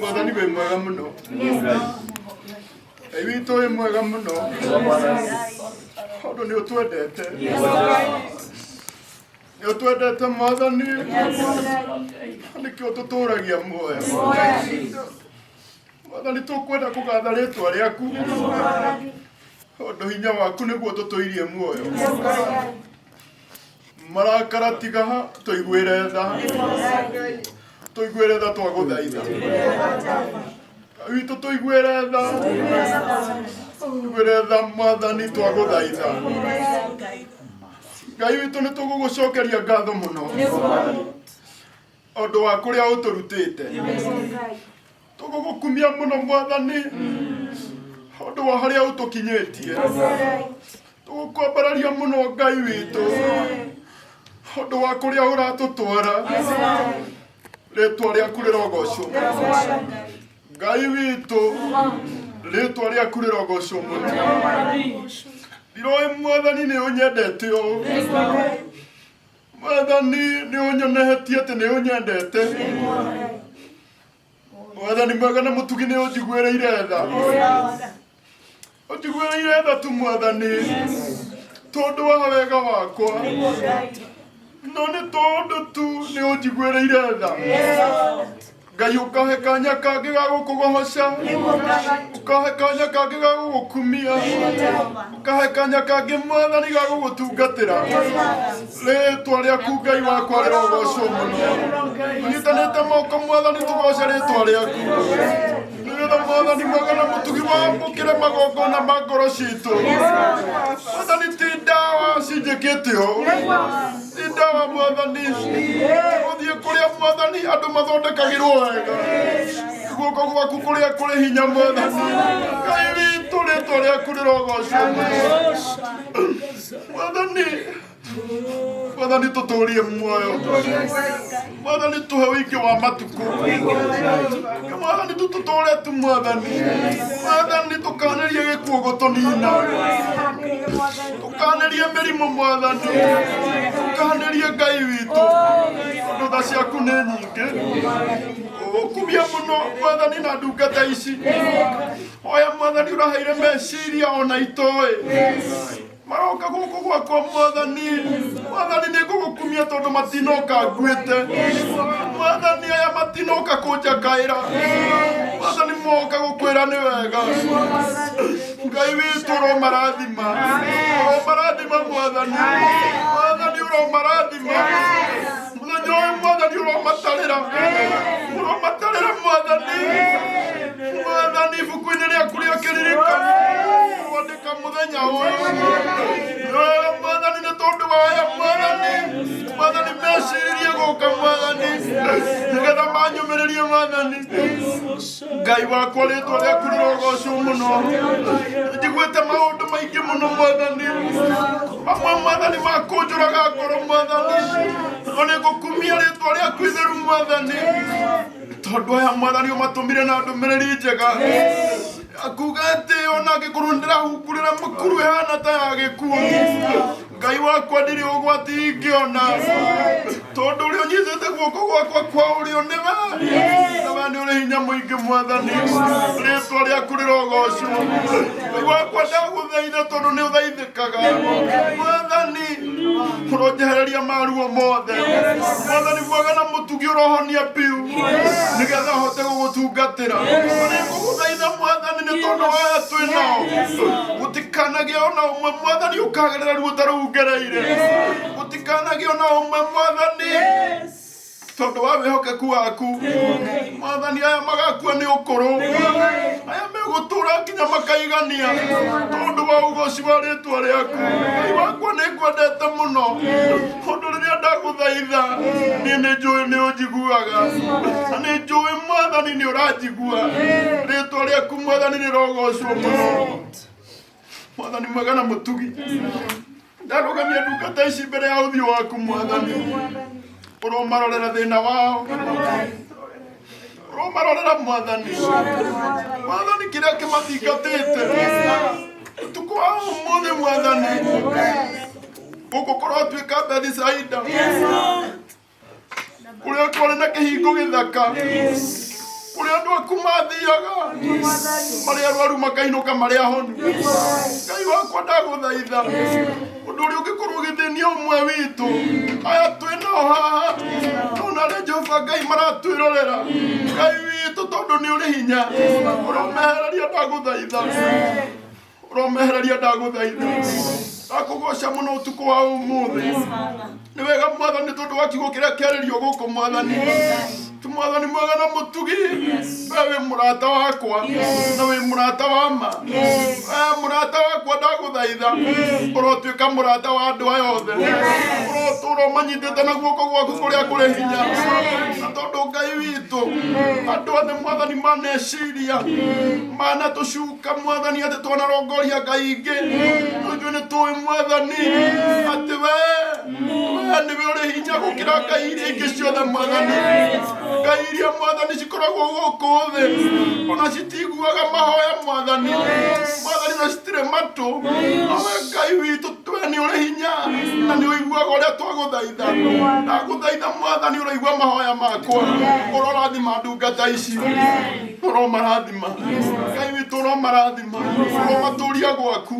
mwathani wĩ mwega mũno ngai witũ wĩ mwega mũno tondũ nĩ ũtwendete nĩ ũtwendete mwathani nĩkĩo tũtũragia muoyo mwathani tũkwenda kũgatha rĩtwa rĩaku Tondũ hinya waku nĩguo tũtũirie muoyo. Marakara tiga ha, tũiguĩre tha. Tũiguĩre tha twagũthaitha. Witũ tũiguĩre tha. Tũiguĩre tha mwathani twagũthaitha. Ngai witũ nĩ tũgũgũcokeria ngatho mũno. Ũndũ wa kũrĩa ũtũrutĩte. tũgũgũkumia mũno mwathani ũndũ wa harĩa ũtũkinyĩtie tũgũkwambararia mũno ngai witũ ũndũ wa kũrĩa ũratũtwara rĩtwa rĩaku rĩrogocwo ngai witũ rĩtwa rĩaku rĩrogocwo mũno ndiroĩ mwathani nĩ ũnyendete ũũ mwathani nĩ ũnyonehetie atĩ nĩ ũnyendete mwathani mwega na mutugi ni unjiguĩrĩire tha unjiguĩrĩire tha tu mwathani tondu wa wega wakwa no nĩ tondu tu nĩ unjiguĩrĩire tha ngai ukahe kanya kangĩ ga gũkũgohoca ukahe kanya kangĩ ga gũgũkumia kahe kanya kangĩ mwathani ga gũgũtungatĩra rĩtwa rĩaku ngai wakwa rĩrogocwo mũno tũnyitanĩte moko mwathani tũgoce rĩtwa rĩaku nĩgetha mwathani mwega na mũtugi wamũkĩre magongona ma ngoro citũ mwathani ti ndawa cinjĩkĩte ũũ Inda wa mwathani gũthiĩ kũrĩa mwathani andũ mathondekagĩrwo wega guoko gwaku kũrĩa kũrĩ hinya mwathani ngai witũ rĩtwa rĩaku rĩrogocwo mwathani mwathani tũtũrie muoyo mwathani tuhe ũingĩ wa matukũ mwathani tũtũtũre tu mwathani mwathani tũkanĩrie gĩkuũ gũtũnina tũkanĩrie mĩrimũ mwathani tũkanĩrie ngai witũ tondũ tha ciaku nĩ nyingĩ ũkumia mũno mwathani na ndungata ici oya mwathani ũraheire meciria ona itoĩ maroka gũkũ gwakwa mwathani mwathani nĩ ngũgũkumia tondũ matinoka nguĩte mwathani aya matinoka kũnjakaĩra mwathani moka gũkwĩra nĩ wega ngai witũ ũromarathima ũromarathima mwathani mwathani ũromarathima mũthenya ũyũ mwathani ũromatarĩra ũromatarĩra mwathani mwathani ibuku-inĩ rĩaku rĩa kĩririkano Ka mũthenya ũyũ wega mwathani nĩ tondũ wa aya mwathani mwathani meciririe gũka mwathani nĩgetha manyũmĩrĩrie mwathani ngai wakwa rĩtwa rĩaku rĩrogocwo mũno njiguĩte maũndũ maingĩ mũno mwathani mamwe mwathani makũnjũraga ngoro mwathani no nĩ ngũkumia rĩtwa rĩaku itheru mwathani tondũ aya mwathani ũmatũmire na ndũmĩrĩri njega akuga atĩ ona angĩkorwo ndĩrahumbũrĩra mũkuru hana ta ya gĩkuũ ngai wakwa ndirĩ ũgwati ingĩona tondũ ũrĩa ũnyitĩte guoko gwakwa kwa ũrĩo nĩwe na we nĩ ũrĩ hinya mũingĩ mwathani rĩtwa rĩaku rĩrogocwo ngai wakwa ndagũthaitha tondũ nĩ ũthaithĩ Kaga. Mwathani mũronjehereria maruo mothe mwathani mwega na mũtugi ũrohonia biũ nĩgetha hote gũgũtungatĩra kũgũthaitha mwathani nĩ tondũ waya twĩ nao gũtikanagĩa ona ũmwe mwathani ũkagerera ruo ta rũu ngereire gũtikanagĩa ona ũmwe mwathani tondũ wa wĩhokeku waku mwathani aya magakua nĩ ũkũrũ aya megũtũra nginya makaigania tondũ wa ũgoci wa rĩtwa rĩaku ngai wakwa nĩ ngwendete mũno ũndũ rĩrĩa ndagũthaitha niĩ nĩ njũĩ nĩ ũnjiguaga na nĩ njũĩ mwathani nĩ ũranjigua rĩtwa rĩaku mwathani rĩrogocwo mũno mwathani mwega na mũtugi ndarũgamia ndungata ici mbere ya ũthiũ waku mwathani ũromarorera thĩna wao ũromarorera mwathani mwathani kĩrĩa kĩmathingatĩte ũtukũ wa ũmũthĩ mwathani ũgũkorwo atuĩka bethi caida kũrĩa kwarĩ na kĩhingo gĩthaka kũrĩa andũ aku mathiaga marĩa arwaru makainũka marĩa ahonu ngai wakwa ndagũthaitha ũndũ ũrĩa ũngĩkorwo ũgĩthĩnia ũmwe witũ aya twĩnao haha tona arĩa jehova ngai maratwĩrorera ngai witũ tondũ nĩ ũrĩ hinya ũromehereria ndagũthaitha ũromehereria ndagũthaitha ndakũgoca mũno ũtukũ wa ũmũthĩ nĩ wega mwathani tondũ wa kiugo kĩrĩa kĩarĩrio gũkũ mwathani Ti mwathani mwega na mũtugi we wĩ mũrata wakwa na wĩ mũrata wa ma we mũrata wakwa ndagũthaitha ũrotuĩka mũrata wa andũ aya othe ũrotũra ũmanyitĩte na guoko gwaku kũrĩa kũrĩ hinya na tondũ ngai witũ andũ othe mwathani maneciria manatũcuka Ka mwathani atĩ twanarongoria ngai ingĩ no ithuĩ nĩ tũĩ mwathani atĩ we we nĩwe ũrĩ hinya gũkĩra ngai iria ingĩ ciothe mwathani ngai iria mwathani cikoragwo gũkũ thĩ ona citiguaga mahoya mwathani mwathani na citirĩ matũ awe ngai witũ we nĩ ũrĩ hinya na nĩ ũiguaga ũrĩa twagũthaitha ndagũthaitha mwathani ũroigua mahoya makwa ũrorathima ndungata ici ũromarathima ũromarathima ngai witũ ũromarathima ũromatũria gwaku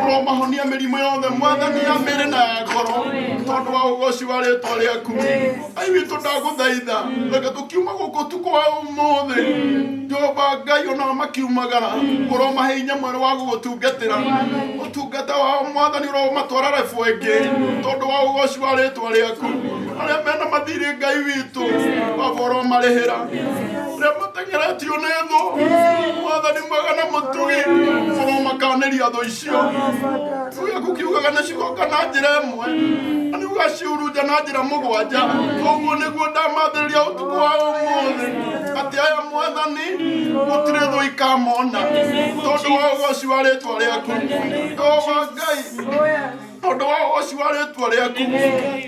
ũromahonia mĩrimũ yothe mwathani ya mĩrĩ na ya ngoro tondũ wa ũgoci wa rĩtwa rĩaku ngai witũ ndagũthaitha reke tũkiuma gũkũ ũtukũ wa ũmũthĩ jehova ngai onao makiumagara ũromahe hinya mwerũ wa gũgũtungatĩra ũtungata wao mwathani ũromatwara rebu ĩngĩ tondũ wa ũgoci wa rĩtwa rĩaku arĩa mena mathirĩ ngai witũ baba ũromarĩhĩra remateng'era ti ona etho mwathani mwega na mũtugi bũrwo makaneria thũ icio tuge kukiugaga nĩ cigoka na njĩra ĩmwe na nĩ ũgaciurunja na njĩra mũgwanja ũguo nĩguo ndamathĩrĩria ũtukũ wa ũmũthĩ atĩ aya mwathani gũtirĩ thũ ikamona tondũ wa ũgoci wa rĩtwa rĩaku Jehova Ngai tondũ wa ũhoci wa rĩtwa rĩaku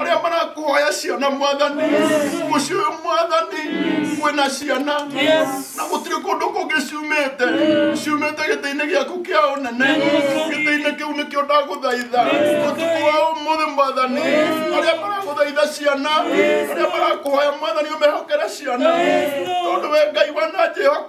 arĩa marakuhoya ciana mwathani mũciĩ ũyũ mwathani kwĩna ciana na gũtirĩ kũndũ kũngĩ ciumĩte ciumĩte gĩtĩ-inĩ gĩaku kĩa ũnene gĩtĩ-inĩ kĩu nĩkĩo ndagũthaitha ũtukũ wa ũmũthĩ mwathani arĩa maragũthaitha ciana arĩa marakuhoya mwathani ũmehokere ciana tondũ we ngai wananjĩhoka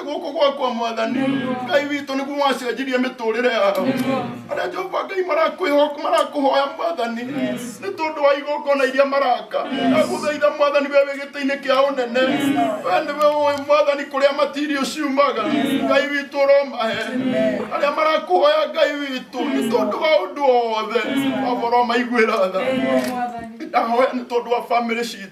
gũkũ gwakwa mwathani ngai witũ nĩguo wacenjirie mĩtũrĩre yao arĩa jehova ngai marakwĩho- marakũhoya mwathani nĩ tondũ wa igongona iria maraka ndagũthaitha mwathani we wĩ gĩtĩ-inĩ kĩa ũnene we nĩwe ũĩ mwathani kũrĩa matirio ciumaga ngai witũ ũromahe arĩa marakũhoya ngai witũ nĩ tondũ wa ũndũ o wothe waboro maiguĩra tha ndahoya nĩ tondũ wa bamĩrĩ citũ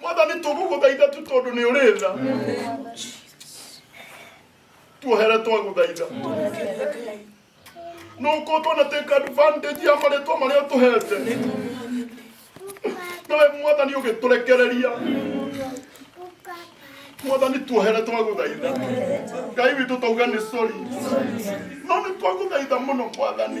mwathani tũgũgũthaitha tu tondũ nĩ ũrĩ tha tuohere twagũthaitha nuko twana take advantage ya marĩtwa marĩa ũtũhete nawe mwathani ũgĩtũrekereria mwathani tuohere twagũthaitha ngai witũ tauga nĩ sori no nĩ twagũthaitha mũno mwathani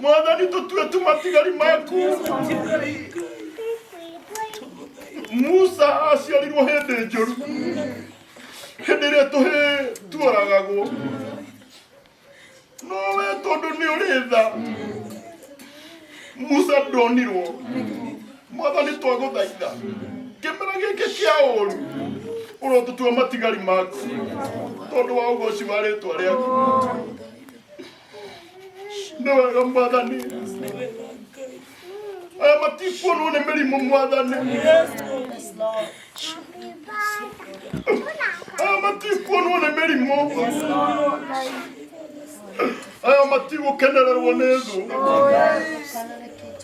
mwathani tũtue tũmatigari maku musa aciarirwo hĩndĩ njũru hĩndĩ ĩrĩa tũhĩ tuoragagwo no we tondũ nĩ ũrĩ tha musa ndonirwo mwathani twagũthaitha kĩmera gĩkĩ kĩa ũru ũrotũtua matigari maku tondũ wa ũgoci wa rĩtwa rĩaku nĩ wega mwathani aya matikuonwo nĩ mĩrimũ mwathani aya matikuonwo nĩ mĩrimũ aya matigũkenererwo nĩ thũ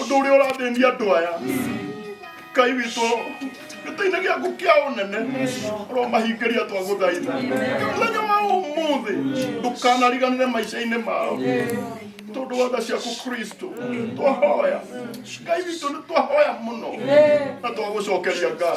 ũndũ ũrĩa ũrathĩnia andũ aya ngai witũ gĩtĩ-inĩ gĩaku kĩa ũnene ũromahingĩria twagũthaitha mũthenya wa ũmũthĩ ndũkanariganĩre maica-inĩ mao tondũ wa tha ciaku kristo twahoya ngai witũ nĩ twahoya mũno na twagũcokeria ngai